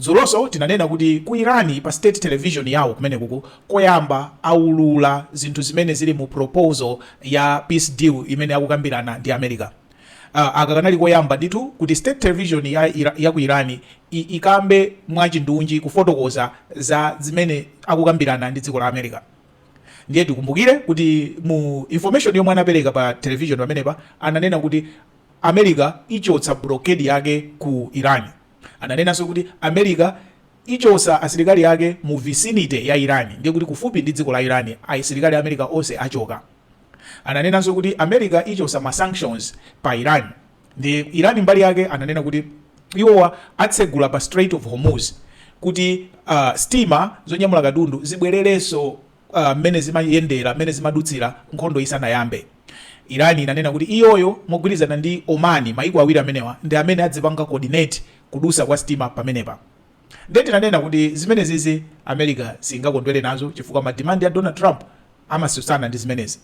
Dzulonso tinanena kuti ku Iran pa state television yawo kumenekuku koyamba aulula zinthu zimene zili mu proposal ya peace deal imene akukambirana ndi America. Aka kanali koyamba ndithu kuti state television ya ya ku Iran ikambe mwachindunji kufotokoza za zimene akukambirana ndi dziko la America. Ndiye tikumbukire kuti mu information yomwe anapereka pa television pamenepa ananena kuti America ichotsa blockade yake ku Iran. Ananenanso kuti, America ichotsa asilikali ake mu vicinity ya Iran, ndiye kuti kufupi ndi dziko la Iran, asilikali a America onse achoka. Ananenanso kuti, America ichotsa ma sanctions pa Iran. Ndiye Iran mbali yake ananena kuti iwowa atsegula pa Strait of Hormuz kuti uh, sitima zonyamula katundu zibwererenso mmene zimayendera, mmene zimadutsira nkhondo isanayambe. Iran inanena kuti iyoyo mogwirizana ndi Oman, mayiko awiri amenewa ndi amene adzipanga coordinate kudutsa kwa sitima pamenepa. Ndiye tinanena kuti zimenezizi America siyingakondwere nazo chifukwa ma demand a Donald Trump amatsutsana ndi zimenezi.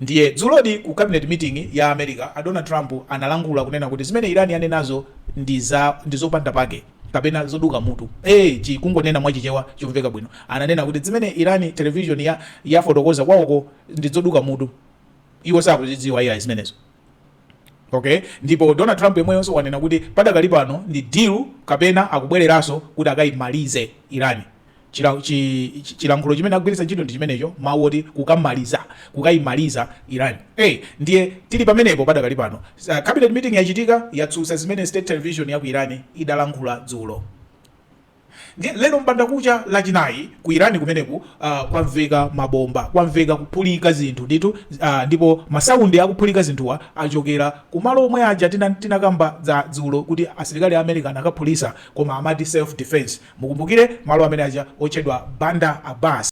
Ndiye dzulodi ku cabinet meeting ya America a Donald Trump analankhula kunena kuti zimene Iran yanenazo ndi za ndi zopanda pake kapena zoduka mutu ee chi kungonena mwa chichewa chomveka bwino ananena kuti zimene Iran television yafotokoza kwawoko ndi zoduka mutu iwo sakuzidziwa iyayi zimenezo. Ok, ndipo Donald Trump yemweyonso wanena kuti padakali pano ndi deal kapena akubwereranso kuti akayimalize Iran. Chilankhulo chimene akugwiritsa ntchito ndi chimenecho, mawu oti kukamaliza, kukayimaliza Iran. A, ndiye tili pamenepo padakali pano. Cabinet meeting yachitika, yatsutsa zimene State Television yaku Iran idalankhula dzulo. Ndiye lero m'bandakucha Lachinayi ku Iran kumeneku, uh, kwamveka mabomba, kwamveka kuphulika zinthu ndithu, uh, ndipo masaundi akuphulika zinthuwa achokera kumalo omwe aja tina, tinakamba za dzulo kuti asilikali a America anakaphulitsa koma amati self defense, mukumbukire malo amene aja otchedwa Bandar Abbas.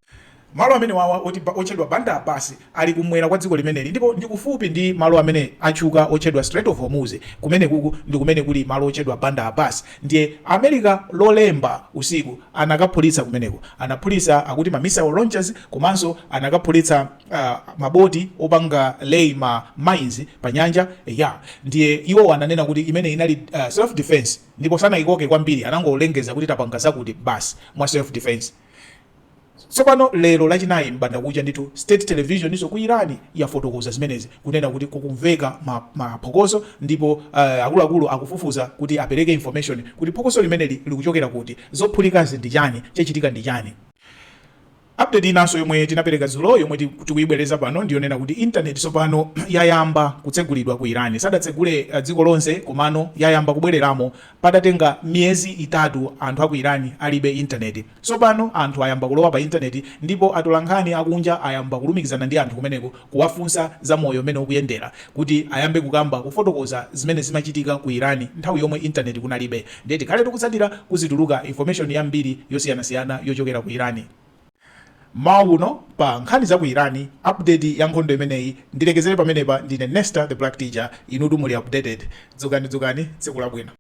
Malo amenewawa otchedwa Bandar Abbas ali kumwera kwa dziko limeneli ndipo ndi kufupi ndi malo amene atchuka otchedwa Strait of Hormuz. Kumenekuku ndi kumene kuli malo otchedwa Bandar Abbas ndiye America Lolemba usiku anakaphulitsa kumeneko. Anaphulitsa akuti ma missile launchers komanso anakaphulitsa ma boti opanga lay ma mines pa nyanja eya ndiye iwowa ananena kuti imeneyi inali self defence ndipo sanaikoke kwambiri anangolengeza kuti tapanga zakuti basi mwa self defence. Tsopano, lero, Lachinayi m'bandakucha ndithu, State Televisionso ku Iran yafotokoza zimenezi, kunena kuti kukumveka ma, ma phokoso, ndipo, uh, akuluakulu akufufuza kuti apereke information kuti phokoso limeneli likuchokera kuti, zophulikazi ndi chani, chachitika ndi chani. Update inanso yomwe tinapereka dzulo yomwe tikuyibwereza pano ndi yonena kuti internet tsopano yayamba kutsegulidwa ku Iran. Sadatsegule uh, dziko lonse komano yayamba kubwereramo padatenga miyezi itatu anthu a ku Iran alibe internet. Tsopano anthu ayamba kulowa pa Intaneti ndipo atolankhani akunja ayamba kulumikizana ndi anthu kumeneko, kuwafunsa za moyo mmene ukuyendera, kuti ayambe kukamba, kufotokoza zimene zimachitika ku Iran nthawi yomwe Intaneti kunalibe. Ndiye tikhale tikutsatira kuzituluka information yambiri yosiyanasiyana yochokera ku Iran. Mmawa uno pa nkhani za ku Iran, update ya nkhondo imeneyi, ndilekezere pamenepa. Ndine Nesta The Black Teacher, inutu muli updated. Dzukani, dzukani, tsiku labwino.